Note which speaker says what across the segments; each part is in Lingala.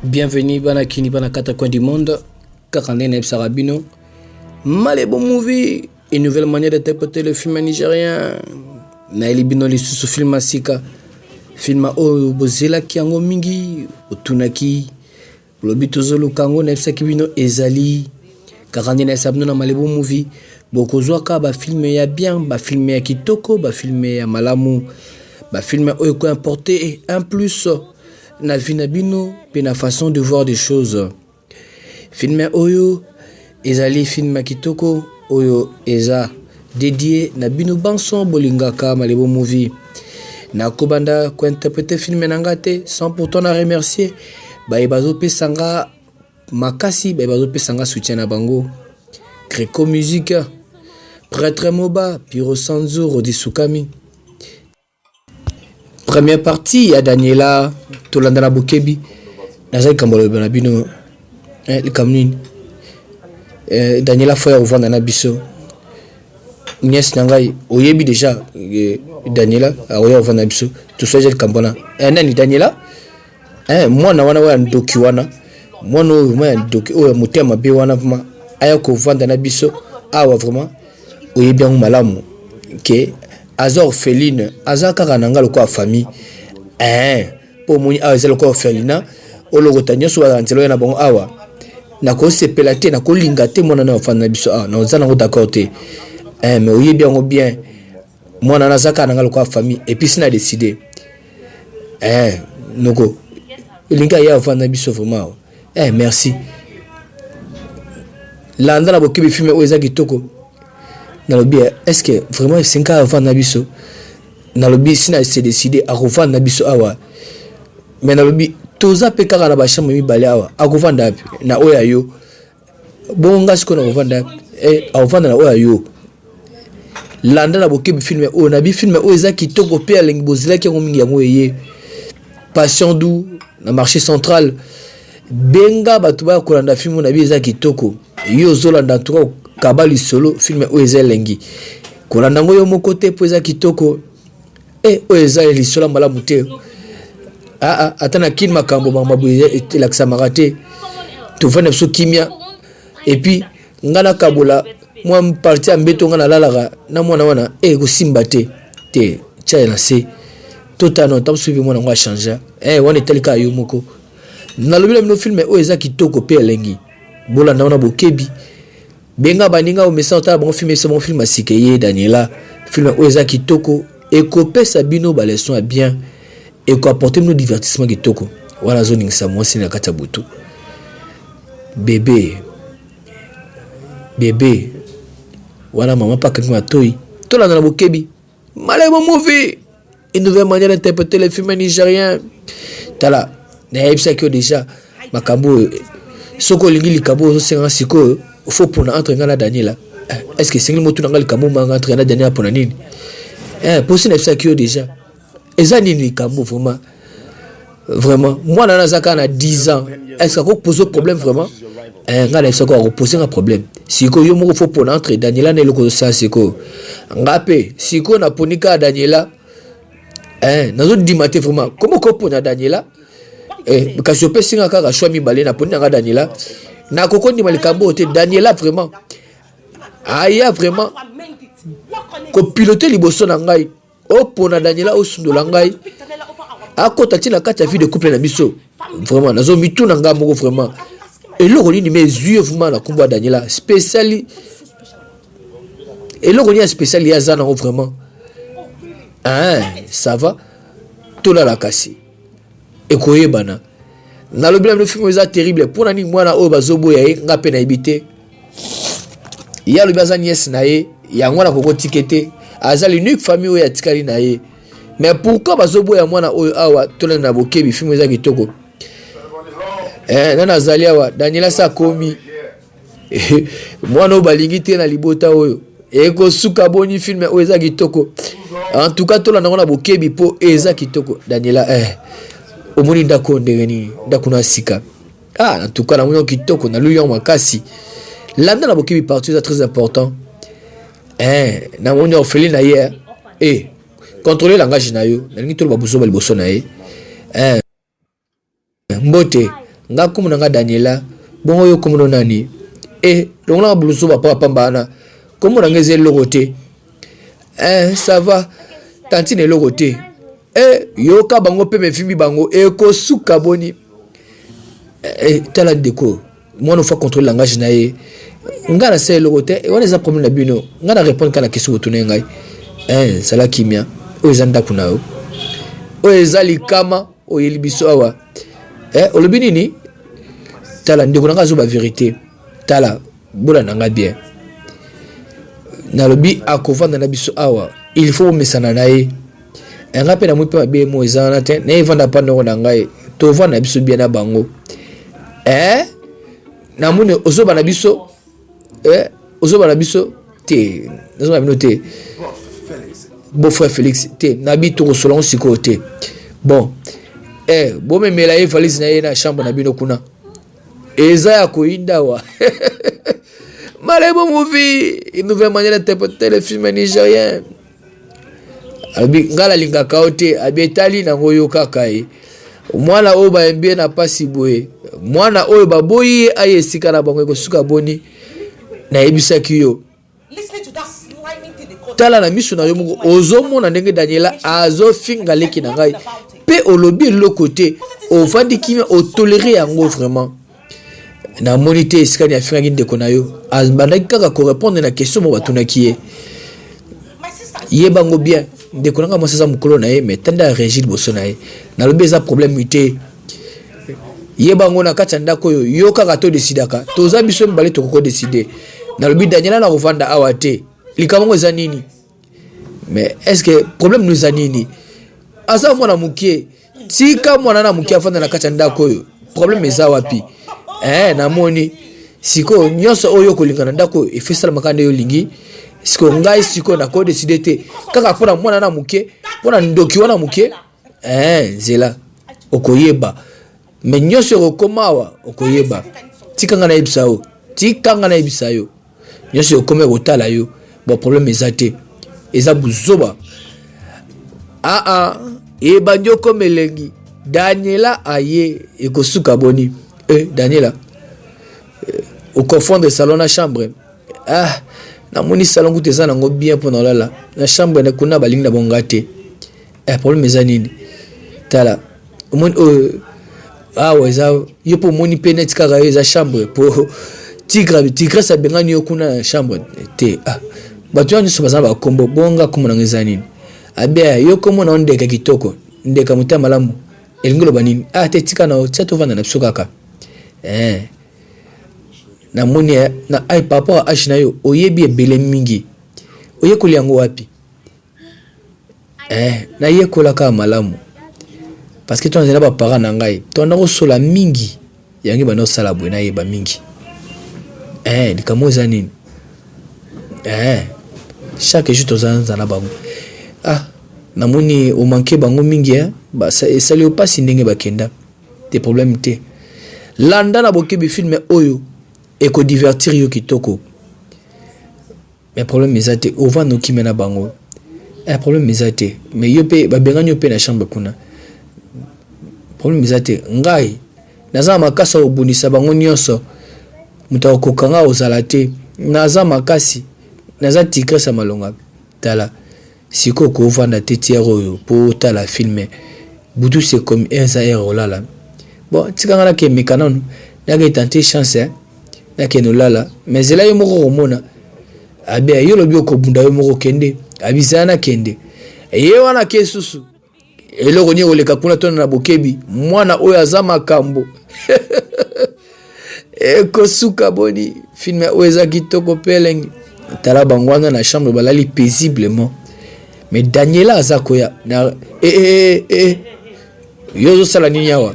Speaker 1: Bienvenue bana kini bana kata coin du monde kaka nde nayebisaka bino malebo movie une nouvelle manière de tapoter le film nigérien nayeli bino lisusu film ya sika filma oyo bozelaki yango mingi otunaki Olobi tozoluka yango nayebisaki bino ezali kaka nde nayebisa bino na malebo movie bokozwaka bafilme ya bien bafilme ya kitoko bafilme ya malamu bafilme oyo ekoimporte un plus na vie na bino mpe na façon de voir des choses filme oyo Ezali film kitoko oyo eza dedie na bino banso bolingaka malebo movie na kobanda ko interprete film na nga te sans pourtant na remercier baye bazopesa nga makasi baye bazopesa nga soutien na bango creco musique prêtre moba piro sanzo rodi sukami Première partie ya Daniela tolanda na bokebi naza likambo loloba na bino eh, likambo nini eh, Daniela fo ya kovanda na biso nièce na ngai oyebi déjà eh, Daniela akoya ah, kovanda na biso toswaja likambo wana eh, nani Daniela Eh, mwana wana oyo ndoki wana mwana oyo vraiment ya ndoki oyo ya motema mabe wana vraiment aya kovanda na biso awa vraiment oyebi yango malamu ke aza orpheline aza kaka na nga lokola famille eh, mpo omoni awa eza lokola orphelina olokota nyonso bazala nzela oyo na bango awa nakosepela te nakolinga te mwana na ofanda na biso awa naoza nango d'accord te eh, mais oyebi yango bien Mwana naza kaka nanga lokola famille et puis sina décider. Eh noko linga ya vanda biso vraiment. Eh merci. Landa na bokebi filme oyo eza kitoko. Nalobi eh, est-ce que vraiment esenga vanda biso? Nalobi sina se décider akovanda biso awa. Mais nalobi toza pe kaka na ba chambre mibale awa. Akovanda na oya yo. Bongo nga sikoyo nakovanda eh, akovanda na oyo ya yo landa na bokebi filme oyo nabi filme oyo eza kitoko mpe alengi bozilaki yango mingi yango eye passion du na marché central benga bato baya kolanda filme oyo nabi eza kitoko yo ozolanda antuka kaba lisolo filme oyo eza elengi kolanda yango yo moko te mpo eza kitoko Eh, oyo eza ya lisola malamu te aa ah, ah, ata na kini makambo makambo boye elakisamaka te tofanda biso kimia epuis nga nakabola mwa parti ya mbeto nga nalalaka na mwana wana e eh, kosimba te te tyaye na se totano ntango soki mwana yango achangea e eh, wana etali kaka yo moko nalobi na bino filme oyo eza kitoko mpe elengi bolanda wana bokebi Benga baninga omesana otala bango film esa bango film ya sika eye Daniela film oyo eza kitoko ekopesa bino ba leçon ya bien eko apporter bino divertissement kitoko wana azoningisa mwasi na kati ya butu bebe bebe wana mama paka matoi tolanda na bokebi Malemo movie une nouvelle manière d'interpréter les films nigériens tala nayebisaki yo déjà makambo oyo soki olingi likambo ozosenga sikoyo faut pona entre ngai na daniela eh, est ce que esengeli motuna ngai likambo manga entre ngai na daniela pona nini eh, mposi nayebisaki yo déjà eza nini likambo vraiment vraiment mwana wana aza kaka na 10 ans estce ako pose problème vraiment eh, ngai nayebisa ko akopose nga problème sikoyo yo moko fo pona entre daniela na eloko osala sikoyo nga mpe sikoyo naponi kaka daniela eh, nazodima te vraiment komo kopona daniela eh, kasi opesi nga kaka shwa mibale naponi na nga daniela nakoki kondima likambo oyo te daniela vraiment aya vraiment kopilote liboso na ngai opona daniela osundola ngai akota ntina kati ya vie de couple na biso vraiment nazo mituna ngai moko vraiment eloko nini me ezwi evuma na nkombo ya daniela spéciali eloko nini ya spéciali ye aza nango vraiment hein, ça va tolala kasi ekoyebana nalobi na bino film eza terrible mpo na nini mwana oyo bazoboya ye nga mpe nayebi te ye alobi aza niese na ye yango wana kokotike te aza l'unique famille oyo atikali na ye mais pourquoi bazoboya mwana oyo awa tolanda na bokebi film eza kitoko eh, nani azali awa daniela se akomi mwana oyo balingi te na libota oyo ekosuka boni filme oyo eza kitoko en tout cas tolanda yango na bokebi mpo eza kitoko daniela eh. omoni ndako ndenge nini ndako na sika ah, en tout cas namoni yango kitoko naluyi yango makasi landa na bokebi partout eza très important eh, namoni ofeli na ye eh. eh controle langage na yo nalingi toloba buzoba liboso na ye eh. Mbote, nga kombo na nga Daniela, bongo yo kombo no nani? Eh, longola nga bulusu ba papa pamba wana. Kombo na nga eza eloko te. Eh, ça va. Tantine eloko te. Eh, yoka bango pe mefimbi bango ekosuka boni. Eh, eh tala ndeko, mwana ofa contrôle langage na ye. Nga na se eloko te, wana eza problème na bino. Nga na répondre kana question otuna ngai. Eh, sala kimia. Oyo eza ndako na yo. Oyo eza likama. oyeli biso awa eh, olobi nini tala ndeko na ngai azoba verité tala bola na ngai bien nalobi akovanda na biso awa il faut omesana na ye eh, ngai mpe namoi mpe mabe mo eza wana te naye evanda mpa ndoko na ngai tovanda na biso bien na bango eh, namoni ozoba na biso eh, ozoba na biso te nazoba na bino te beau frère félix te nabi tokosola yango sikoyo te bon eh, bomemela ye valise na ye na chambre na bino kuna eza ya koyinda wa malebo movie une nouvelle manière d'interpréter le film nigérien abi ngai nalingaka yo te abi etali nango yo kaka ye mwana oyo bayembi ye na mpasi boye mwana oyo baboyi ye aye esika na bango ekosuka boni nayebisaki yo tala na miso na yo moko ozomona ndenge daniela azofinga leki na ngai mpe olobi eloko te ofandi kimia otolere yango vraiment namoni te esika ni afingaki ndeko na yo abandaki kaka korepondre na question mo batunaki ye yebango bien ndeko na ngai mwasi aza mokolo na ye mai tande ya régi liboso na ye nalobi eza problème te yebango na kati ya ndako oyo yo kaka todesidaka toza biso mibale tokoki kodeside nalobi daniela na kovanda awa te likambo yango eza nini mais est ce que problème nous anini aza mwana mokie tika mwana na mokie afanda na kati ya ndako oyo problème eza wapi eh, namoni sikoyo nyonso oyo okolingana ndako oyo efesalamaka nde olingi sikoyo ngai sikoyo nakodeside te kaka mpo na mwana na moke mpo na ndoki wana moke eh, nzela okoyeba Mais nyoso ekokoma awa okoyeba. Tika nga nayebisa yo. Tika nga nayebisa yo. Nyoso ekokoma ekotala yo. Bon problème eza te. Eza buzoba. Ah ah. Ebandi okoma elengi. Daniela aye ekosuka boni. Eh Daniela. Eh, okofondre salon na chambre. Ah. namoni salon kutu eza nango bien mpo na olala na chambre na kuna balingi na bonga te eh, problème eza nini tala omoni oyo euh, awa eza yo mpo omoni mpe neti kaka yo eza chambre mpo tigre tigrese abengani yo kuna na chambre te ah, bato wana nyonso baza na bakombo bonga kombo nango eza nini abea yo kombo na yo ndeka kitoko ndeka motema malamu elingi loba nini ah te tika na yo tia tovanda na biso kaka eh. namoni eh, na ai par rapport ya age na yo oyebi ebele mingi oyekoli yango wapi eh, nayekola kaka malamu parce que tozali na baparent na ngai tobanda kosola mingi yango ebanda kosala boye nayeba mingi eh, likambo eza nini eh, chaque jour tozanza na bango ah namoni omanke bango mingi eh? esali yo mpasi ndenge bakenda te problème te landa na bokebi filme oyo ekodivertir yo kitoko Mais problème eza te ovanda okimela bango eh problème eza te mais yo pe babengani yo pe na chambre kuna problème eza te ngai naza na makasi ya kobundisa bango nyonso moto akokoka ngai ozala te naza makasi naza tigresse ya malonga tala Sikoyo oko vanda te ti heure oyo po otala film? Butu c'est comme eza heure ya kolala. Bon tika nga nake meka nanu nake tenter chance hein. Nakende olala mais zela yo moko okomona. Abe yo lobi okobunda yo moko kende. Abi zela nakende. Ye wana ake susu. eloko nini ekoleka kuna tona na bokebi mwana oyo aza makambo ekosuka boni filme oyo eza kitoko pelenge tala bango wana na chambre balali paisiblement mais daniela aza koya na e, e, e, yo ozosala nini awa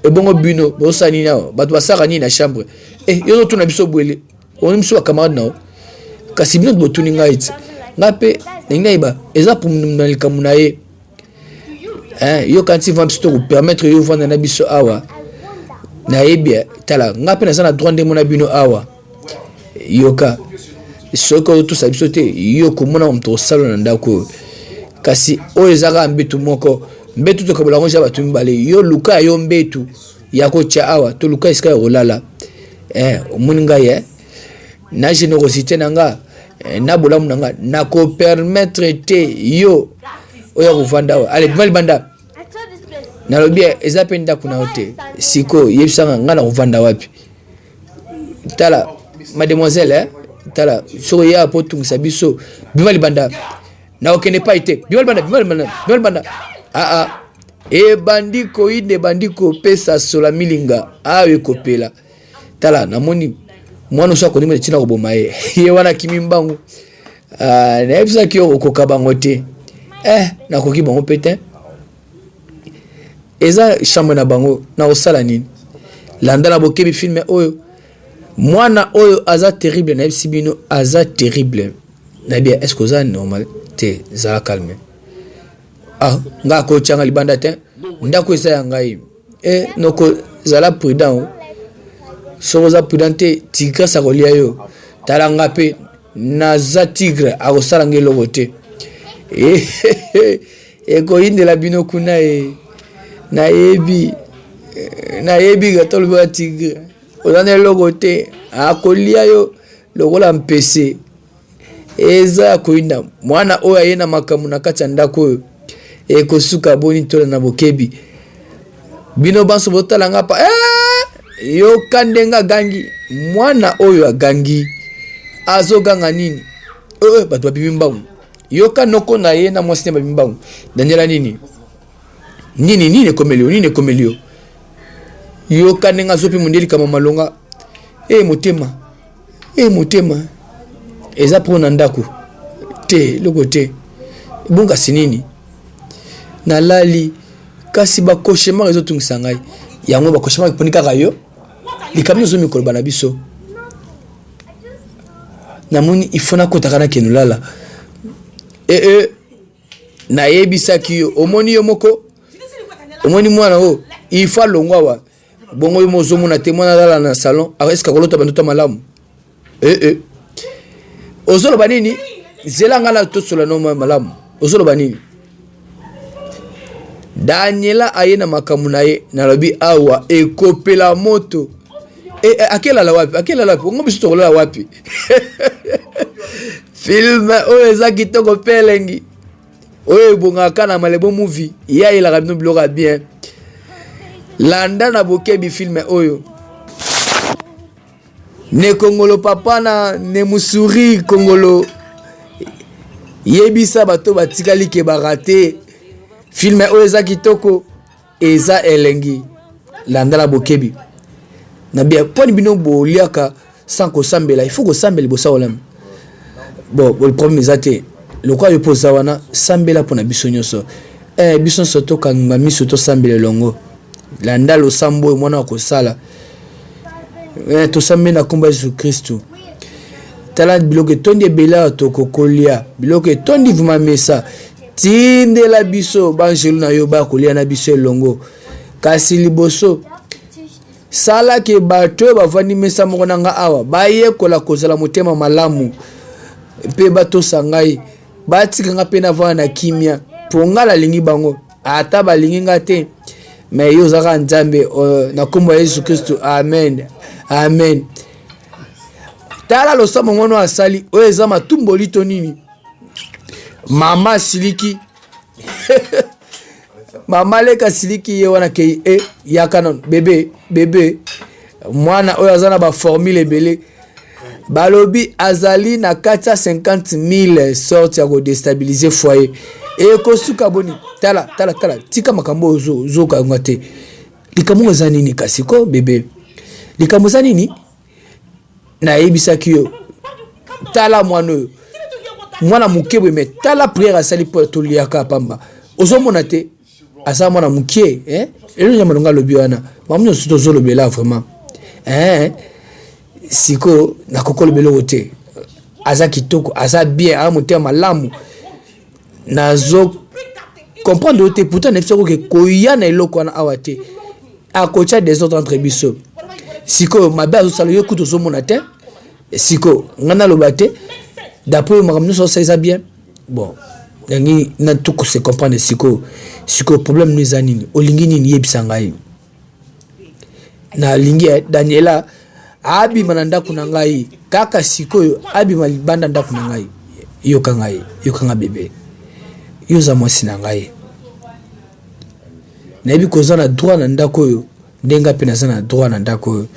Speaker 1: ebongo bino bozosala nini awa bato basalaka nini na chambre e, yo ozotuna biso bwele omoni biso bacamarade na yo kasi bino botuni ngai ete ngai mpe ndenge nayeba eza na likambo na ye yo kanti vambi biso tokopermettre yo ovanda na biso awa nayebi tala ngai mpe naza na droit ndemo na bino awa yoka soki otosa biso te yo komona moto osala na ndako oyo kasi oyo eza kaka mbetu moko mbetu tokabola yango ja bato mibale yo luka yo mbetu ya kotya awa toluka esika ya kolala eh, omoni ngai eh? na generosité na nga eh, na bolamu na nga nakopermettre te yo oya kovanda awa ale bima libanda nalobi eh, eza mpe ndako na yo te sikoyo yebisanga ngai nakovanda wapi tala mademoiselle eh? tala soki oya mpo otungisa biso bima libanda na okende epai te bima libanda bima libanda bima libanda aa ebandi koyina ebandi kopesa sola milinga awa ekopela tala namoni mwana oso akondima ntina koboma ye ye wana akimi mbangu ah, nayebisaki yo okoka bango te eh nakoki bango mpe te eza chambre na bango nakosala nini landa na bokebi filme oyo mwana oyo aza terrible nayebisi bino aza terrible nayebi est ce que oza normal te zala calme ah ngai akotyanga libanda te ndako eza ya ngai e noko zala prudent o soki oza prudent te tigrese akolya yo tala nga mpe naza tigre akosala nga eloko te eh, ekoyindela bino kuna e nayebi eh, nayebi ata olobaka tigre oza na eloko te akolya yo lokola mpese eza ya koyinda mwana oyo aye na makambo na kati ya ndako oyo ekosuka boni tola na bokebi bino banso botala nga pa eh! yoka ndenge agangi mwana oyo agangi azoganga nini oyo eh, eh, bato babimi mbangu yoka noko na ye na mwasi na babimi mbangu daniela nini nini nini ekomeli yo nini ekomeli yo yoka ndenge azopi mondeli kama malonga e motema e motema eza mpo na ndako te eloko te ebongasi nini nalali kasi bakoshemar ezotungisa ngai yango bakoshemar eponi kaka yo likambo nyonso mikoloba na biso namoni ifo nakotaka na kenolala ee eh, eh. nayebisaki yo omoni yo moko omoni mwana oyo il faut alongwa wa bongo yo mozomona te mwana alala na salon eske akolota bandoto malamu ee eh, eh. ozoloba nini zela ngai na tosola no malamu ozoloba nini daniela aye na makambo na ye nalobi awa ekopela moto e, e, akelala wapi akelala wapi ongo biso tokolala wapi film oyo eza kitoko mpe elengi oyo ebongaka na malebo movie ye ayelaka bino biloko ya bien landa na bokebi filme oyo ne kongolo papa na ne musuri kongolo yebisa bato batikali ke barate filme oyo eza kitoko eza elengi landa na bokebi na bia poni bino boliaka sans kosambela il faut kosambela liboso ya kolamba bon problème eza te lokola yo mpo oza wana sambela mpo na biso nyonso eh, biso nyonso tokanga miso tosambela elongo landa losambo oyo mwana akosala eh, tosambeli na nkombo ya yesu kristu tala biloko etondi ebele awa tokokolia biloko etondi vuma mesa Tindela biso banjelu na yo bakolia na biso elongo. Kasi liboso, sala ke bato oyo bavandi mesa moko na ngai awa bayekola kozala motema malamu mpe batosa ngai, batika ngai mpe navanda na kimia, mpo ngai nalingi bango ata balingi ngai te. Me yo ozalaka Nzambe uh, na nkombo ya Yesu Kristo, amen, amen. Tala losambo ngono asali, oyo eza matumboli to nini? mama asiliki mama leka asiliki ye wana kei e yaka nano bebe bebe mwana oyo aza na baformule ebele balobi azali na kati ya 50000 sorte ya kodestabilize foyer ekosuka boni tala tala tala tika makambo oyo ozokanga te likambo eza nini kasi ko bebe likambo eza nini nayebisaki yo tala mwana oyo mwana moke boye me tala priere asali mpo toliaka pamba ozomona te aza mwana moke eh? elo nyama longa alobi wana mamu nyonso tozolobela vraiment eh? sikoyo nakoki olobela oyo te aza kitoko aza bien a motema malamu nazo comprendre yo te pourtant nayebisa ko ke koya na eloko wana awa te akotya desordre entre biso sikoyo mabe azosala yo kutu ozomona te sikoyo ngai naloba te d'après yo makambo nyonso osalisa bien bon yangi na tuku se comprendre sikoyo sikoyo problème no eza nini olingi nini yebisa ngai nalingi ya daniela abima na ndako na ngai kaka sikoyo abima libanda ndako na ngai yoka ngai yoka ngai bebe yo oza mwasi na ngai nayebi koza na droit na ndako oyo ndenge ngai mpe naza na droit na ndako oyo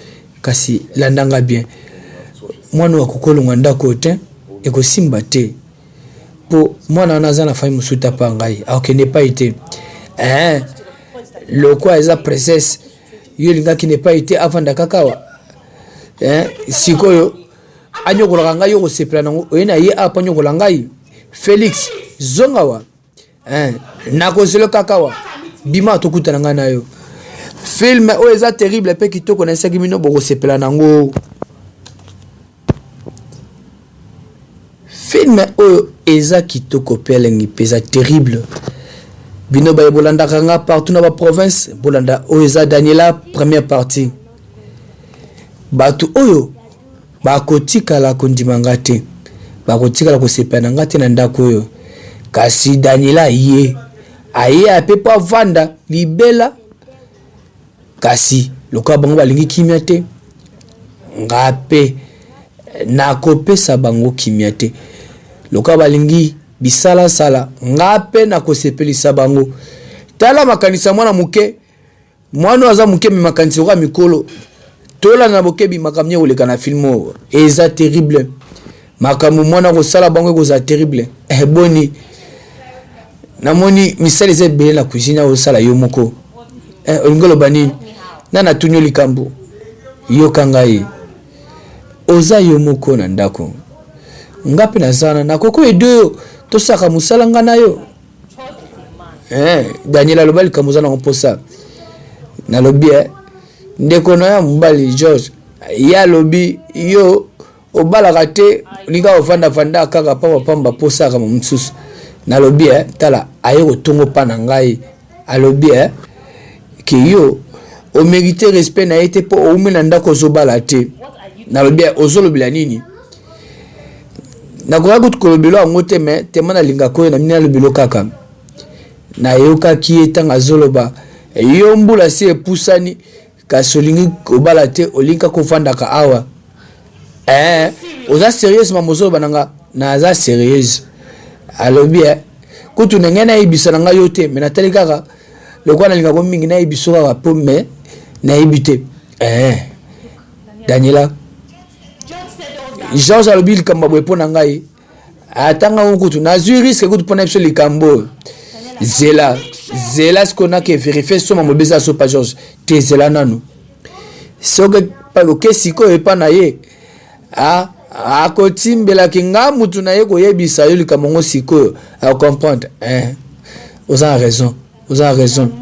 Speaker 1: kasi landa ngai bien mwana oyo akokolonga ndako oyo te ekosimba te po mwana wana aza na famille mosusu te apa ngai akokende epai te eh, lokwa eza princesse yo olingaki na epai te avanda kaka awa eh, sikoyo anyokolaka ngai yo kosepela nango oye na ye apa nyokola ngai felix zonga wa eh, nakozelo kaka wa bima tokutana ngai na yo filme oyo eza terrible mpe kitoko na esaki bino bokosepela nango filme oyo eza kitoko mpe elengi mpe eza terrible bino baye bolandaka nga partout na baprovince bolanda oyo eza daniela première partie bato oyo Bakotikala kondima ngai te. Bakotikala kosepela na ngai te na ndako oyo. Kasi Daniela aye, aye ape mpo avanda libela. Kasi lokola bango balingi kimia te, ngai mpe nakopesa bango kimia te. Lokola balingi bisalasala, ngai mpe nakosepelisa bango. Tala makanisi ya mwana moke mwana oyo aza moke me makanisi okoka mikolo tolanda na bokebi makambo nini ekoleka na filme oyo eza terrible makambo mwana akosala bango ekozala terrible eh, boni namoni misala eza ebele na cuisine akosala yo moko eh, olingi oloba nini na natuni yo likambo yoka ngai oza yo moko na ndako nga mpe naza wana nakoki oyedo yo tosaka mosala nga na yo eh, daniel aloba likambo oza nango mposa nalobi e eh, ndeko na ya mobali george ye alobi yo obalaka te olinga ofandafanda kaka pambapamba mposaka mosusu nalobi e tala aye kotongo mpa na ngai alobi e ke yo omerite respect na ye te mpo oume na ndako ozobala te nalobi e ozolobela nini nakoka kutu kolobelo yango te me tema nalingaka oyo na mini alobelo kaka nayokaki ye ntango azoloba yo mbula si epusani kasi olingi kobala te olingi kaka ofandaka awa eh, oza serieuse mama ozoloba na nga naza serieuse alobi eh, kutu na ngai nayebisa na ngai yo te me natali kaka lokola nalingaka ko mingi nayebiso kaka mpo me nayebi te eh, daniela george alobi likambo boye mpo na ngai atanga ngo kutu nazwi riske kutu mpo na biso likambo oyo zela zela sikoyo nake verifie soma mobeza so pa george te zela nanu soki paloke sikoyo epa na ye akotimbelaki nga mutu na ye koyebisa yo likambo ngo sikoyo akomprendre eh, oza na raison oza na raison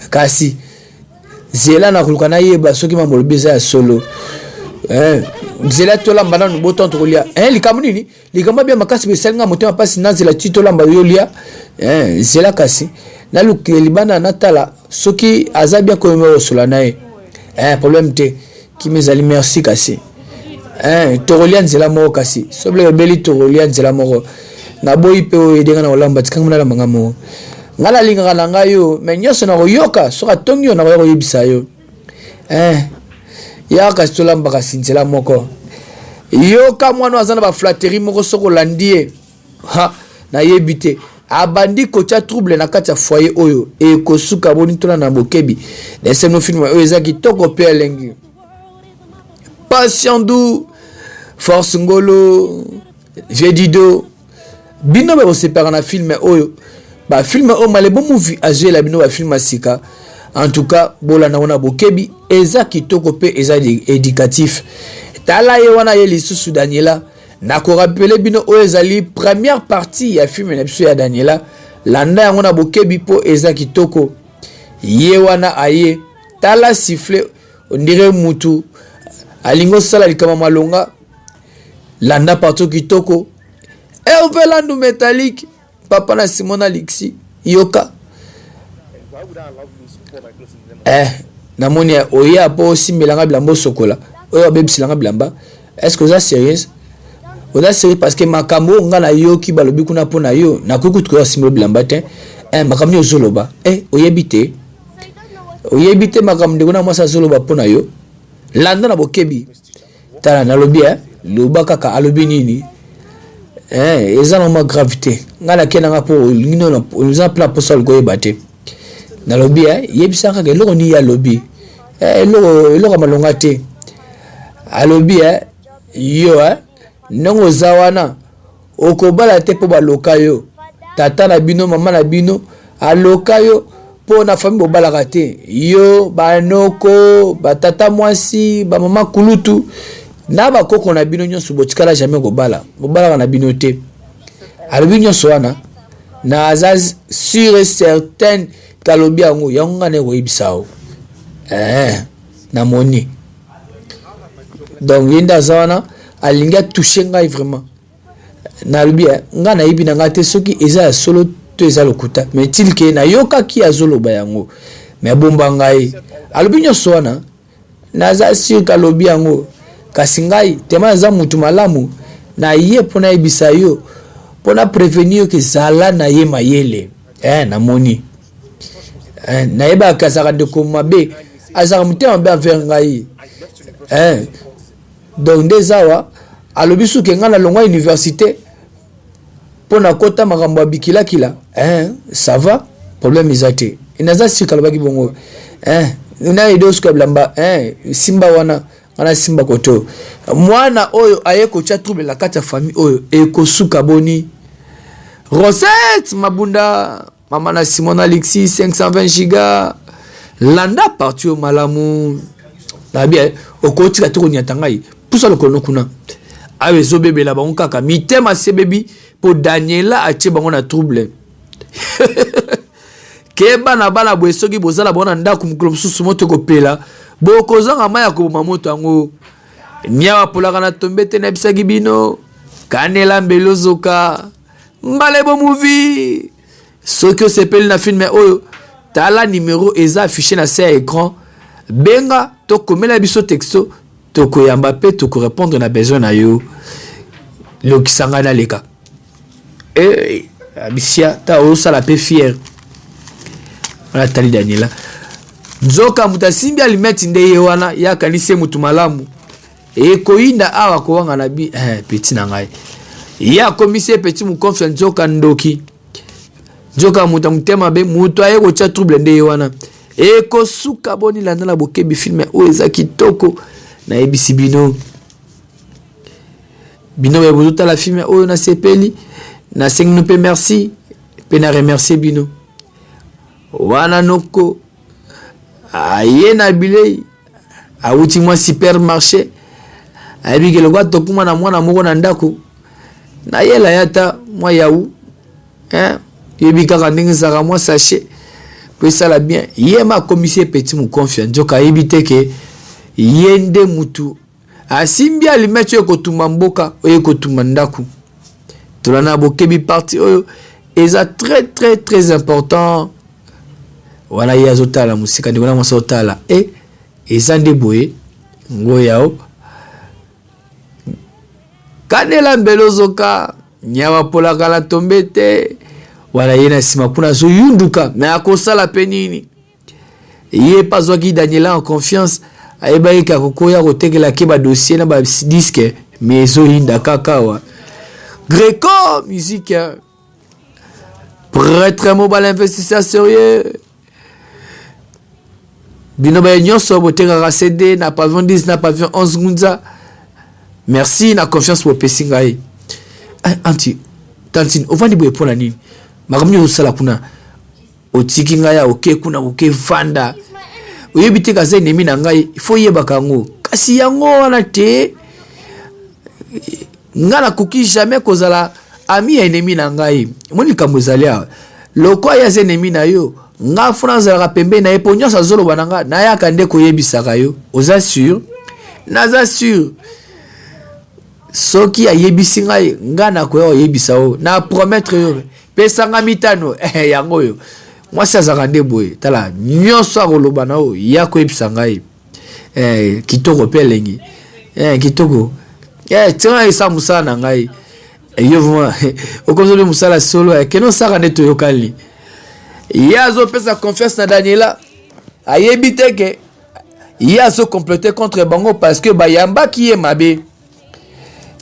Speaker 1: kasi zela na koluka nayeba soki mambo olobi eza ya solo eh, zela tolamba nanu botan tokolia eh, likambo nini likambo abia makasi besali nga motema mpasi nazela ti tolamba yolia eh, zela kasi nalukile libanda natala soki aza bia koyoma osola na ye eh, problème te Kimia ezali merci kasi eh tokolia nzela moko kasi soble ebeli tokolia nzela moko naboyi mpe oyo edenga na kolamba tikanga mona lamba nga moko ngai nalingaka na ngai yo me nyonso nakoyoka soki atongi yo nakoya koyebisa yo eh ya kasi tolamba kasi nzela moko yoka mwana aza na baflateri moko soki olandi ye ha nayebi te abandi kotya trouble na kati ya foyer oyo ekosuka boni tona na bokebi leseno film oyo eza kitoko mpe elengi pasiandu force ngolo viedido bino bakosepaka na filme oyo bafilme oyo malebo muvi azwela bino bafilme ya sika en tout cas bolanda wana bokebi eza kitoko mpe eza éducatif tala ye wana ye lisusu daniela Na ko rappeler bino oyo ezali première partie ya film na biso ya Daniela. Landa yango na bokebi po eza kitoko. Ye wana aye tala sifflet ondire mutu alingi osala likambo malonga landa partout kitoko Herve Landu Metallique papa na simon na lixi yoka eh, namoni oya mpo osimbela nga bilamba osokola oyo abebisela nga bilamba est ce que oza sérieuse oza sérieux parce que makambo oyo ngai nayoki balobi kuna mpo na yo nakoki kutu koya osimbela bilamba te eh, makambo nini ozoloba eh, oyebi te oyebi te makambo ndeko na mwasi azoloba mpo na yo landa na bokebi Tala nalobi hein loba kaka alobi nini hein eza na mwa grave te nga na kenda nga po olingi no oza na plan posa liko yeba te nalobi hein yebisa kaka eloko nini alobi eh, eloko eloko malonga te alobi hein yo hein ndenge oza wana Okobala te mpo baloka yo. Tata na bino, mama na bino aloka yo mpo na fami bobalaka te. Yo, banoko, batata mwasi, bamama kulutu na bakoko na bino nyonso botikala jamais kobala. Bobalaka na bino te. Alobi nyonso wana naza sur et certaine kalobi yango yango ngai naye koyebisa yo eh, namoni donc ye nde aza wana alingi atouche ngai vraiment nalobi eh, ngai nayebi na ngai te soki eza ya solo to eza lokuta mais tilke nayokaki azoloba yango me abomba ngai alobi nyonso wana naza sur kalobi yango kasi ngai tema naza mutu malamu na ye mpo nayebisa yo mpo na prevenir ke zala na ye mayele eh, namoni eh, nayebaka azalaka ndeko mabe azalaka motema mabe envers ngai eh, donc nde eza awa alobi suki ngai nalongwa université mpo nakota makambo ya bikilakila eh, ça va problème eza te naza sika alobaki bongo eh, nayebi osuka bilamba eh, simba wana wana simba koto mwana oyo aye kotya trouble na kati ya famille oyo ekosuka boni rosette mabunda Mama na Simon Alexis 520 giga landa parti oyo malamu nayebi eh, okotika te konyata ngai pusa lokolo no kuna awa ezobebela bango kaka mitema sebebi mpo daniela atie bango na trouble keba na bana boye soki bozala bango na ndako mokolo mosusu moto ekopela bokozanga mai ya koboma moto yango miawa polaka na tombe te nayebisaki bino kanela mbeli ozoka Ngalebo movie soki osepeli na filme oyo tala numero eza affiche na se ya écran benga to komela biso texto tokoyamba mpe tokorepondre na besoin na yo lokisa ngai naleka eh, abisia ta osala mpe fiere wana tali daniela nzoka moto asimbi alimeti nde ye wana ye akanisi ye moto malamu Et koyinda awa kowanga na bi eh, petit na ngai ye akomisi ye petit mokonfia nzoka ndoki nzoka moto ya motema mabe moto aye kotya trouble nde ye wana ekosuka boni landa na bokebi filme oyo eza kitoko nayebisi bino bino baye bozotala filme oyo nasepeli nasengi no mpe merci mpe na remercie bino wana noko aye na bilei awuti mwa supermarché ayebi ke lokola tokuma na mwana moko na ndako nayela ye ata mwa yawu eh, yebi kaka ndenge ezalaka mwa sachet mpo esala bien ye ma akomisi ye peti mokonfia nzoka ayebi te ke ye nde mutu asimbi alimeti oyo ekotumba mboka oyo ekotumba ndako tolanda bokebi parti oyo eza très très très important wana ye azotala mosika ndeko na mwasi otala e eh, eza nde boye ngo yao kanela mbele ozoka nyama polaka na tombe te wana ye na nsima kuna azoyunduka me akosala mpe nini Ye pe azwaki Daniela en confiance, ayebaki ke akoki koya kotekela ke ba dossier na ba disque mais ezoyinda kaka awa. Greco musique pretre mobile investisseur serieux bino baye nyonso botekaka cd na pavillon 10 na pavillon 11 ngunza merci na confiance bopesi ngai eh, anti tantine ovandi boye mpo na nini makambo nini ozosala kuna otiki ngai ya oke kuna koke vanda oyebi te kaza enemi na ngai ifo yebaka yango kasi yango wana te ngai nakoki jamais kozala ami ya enemi na ngai omoni likambo ezali awa loko aya aza enemi na yo ngai fona azalaka pembeni na ye mpo nyonso azoloba na ngai nayaka nde koyebisaka yo oza sur naza sur soki ayebisi ngai ngai nakoya koyebisa yo na promettre yo pesa ngai mitano eh, yango oyo mwasi azalaka nde boye tala nyonso akoloba na oyo ya koyebisa ngai eh, kitoko mpe elengi eh, kitoko eh, tika ngai esala mosala na ngai eh, yo vraimen okomi soki mosala solo eh, kende osaka nde toyokani ye azopesa confiance na daniela ayebi te ke ye azo complote contre bango parce que bayambaki ye mabe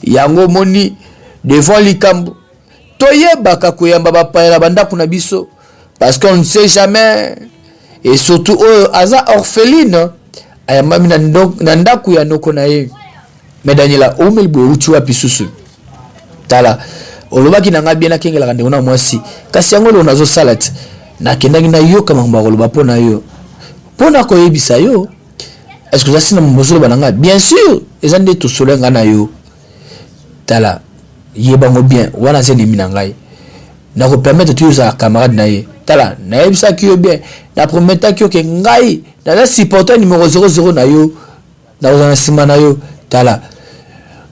Speaker 1: yango omoni devant likambo toyebaka koyamba bapaya na bandako na biso parce qu'on ne sait jamais et surtout oyo aza orpheline ayambami na ndako ya noko na ye Mais Daniela, omeli boye uti wapi susu? Tala, olobaki na ngai bien nakengelaka ndeko na mwasi. Kasi yango eloko nazosala ti. Nakendaki nayoka makambo ya koloba mpo na yo. Mpo na koyebisa yo, est-ce que oza si na makambo ozoloba na ngai? Bien sûr, eza nde tosolo ya ngai na yo. Tala, yeba yango bien, wana aza enemi na ngai. Nakopermettre te yo ozala camarade na ye. Tala, nayebisaki yo bien, naprometaki yo ke ngai naza supporter numero 00 na yo. nakozala na nsima na yo tala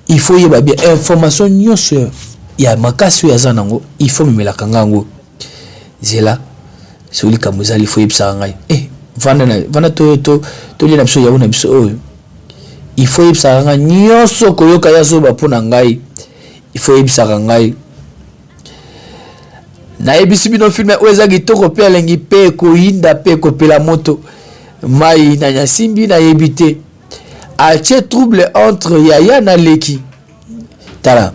Speaker 1: il faut yeba bien information nyonso ya makasi oyo aza nango il faut memelaka nga yango zela soki likambo ezali faut yebisaka ngai eh, vanda na vanda to to tolie na biso yawu na biso oyo il faut yebisaka ngai nyonso koyoka ya zoba mpo na ngai il faut yebisaka ngai nayebisi bino filme oyo eza kitoko mpe elengi mpe ekoyinda mpe ekopela moto mai na nyasimbi nayebi te atie trouble entre yaya na leki tala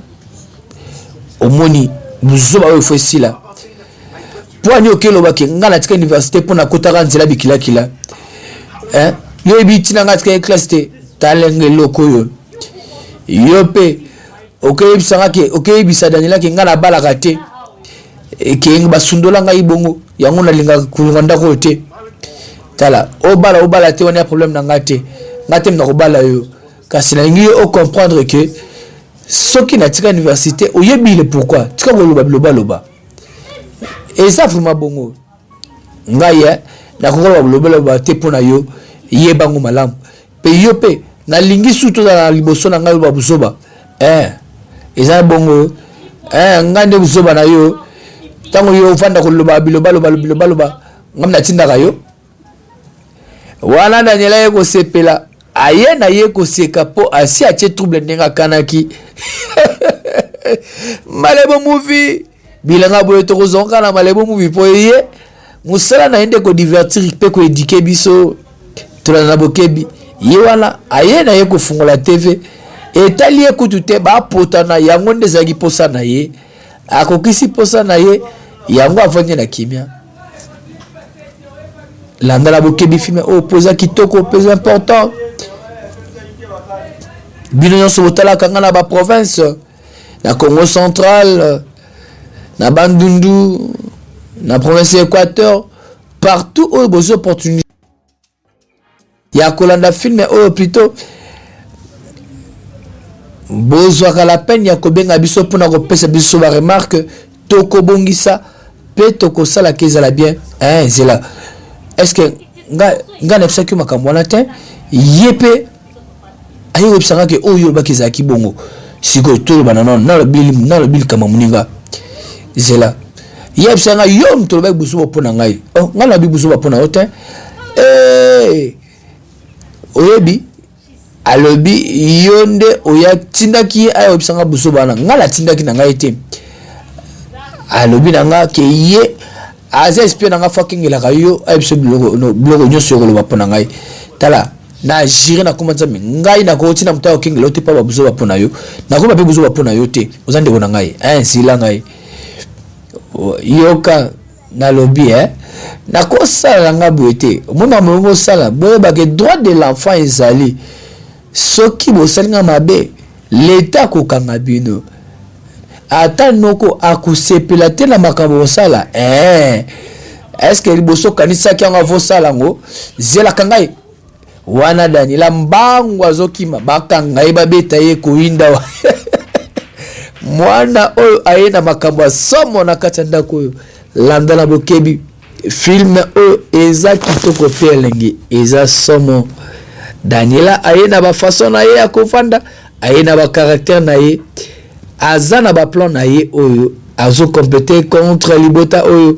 Speaker 1: omoni buzoba oyo fo esila mpo ani oke elobaki ngai natika université mpo nakotaka nzela bikilakila eh? yo yebi ntina ngai atikaki classe te talenga eloko oyo yo mpe okeyebisa nga ke okeyebisa daniela ke nga nabalaka te eh, ke basundola ngai bongo yango nalingaka kolonga ndako oyo te tala obala obala te wana ya problème na ngai te ngai te nakobala yo kasi nalingi yo ocomprendre ke soki natika université oyebi le pourquoi tika koloba bilobaloba eza vraimen bongo ngai eh, nakoki koloba bilobela ba te mpo na yo yeba yango malamu mpe yo mpe nalingi sutu ozala liboso na ngai oba buzoba eh, eza bongo eh, ngai nde buzoba na yo ntango yo ofanda koloba bilobaloba bilobaloba ngai natindaka yo wana daniela ye kosepela aye na ye koseka mpo asi atie trouble ndenge akanaki malebo muvi bilanga boye tokozonga na malebo mubi mpo eye mosala na ye nde kodivertir mpe koedike biso tolanda na bokebi ye wana aye na ye kofungola tv etali ye kutu te bapotana yango nde ezalaki mposa na ye akokisi mposa na ye yango avandi na kimia landa na bokebi filme oyo oh, mpo eza kitoko mpe eza important bino nyonso botalaka ngai na baprovince na congo central na bandundu na province ya équateur partout oyo bozwi opportunité ya kolanda filme oyo plutôt bozwaka la peine ya kobenga biso mpona kopesa biso baremarke tokobongisa mpe tokosalaka ezala bien eh, zela estce nga nga nayebisaki yo makambo wana te ye mpe aye koyebisa nga ke oyo olobaki ezalaki bongo sikoyo toloba na nano nalobi likambo moninga zela ye abisa nga yo moto olobaki buzoba mpo na ngai oh, ngai nalobi buzoba mpo na yo te eh, oyebi alobi yo nde oya tindaki ye aya oyebisa nga buzoba wana nga natindaki na ngai te alobi na nga ke ye aza espie na nga fo akengelaka yo ayebisa biloko nyonso yo koloba mpo na ngai tala na jire na koma nzambe ngai nakoti na moto ya kokengela yo te mpo babuzoba mpo na yo nakoba mpe buzoba mpo na yo te oza ndeko na ngai eh, nsila ngai yoka nalobi eh nakosala na nga boye te omoni makambo yango osala boyebake droit de l'enfant ezali soki bosali nga mabe leta akokanga bino ata noko akosepela te na makambo osala eh. eske liboso okanisaki yango avosala yango zelaka ngai Wana Daniela mbangu azokima bakanga ye babeta ye koyinda wa mwana oyo aye na makambo ya somo na kati ya ndako oyo landa na bokebi film oyo eza kitoko mpe elengi eza somo daniela aye na bafason na ye ya kofanda aye na bakaraktere na ye aza na baplan na ye oyo azokompete contre libota oyo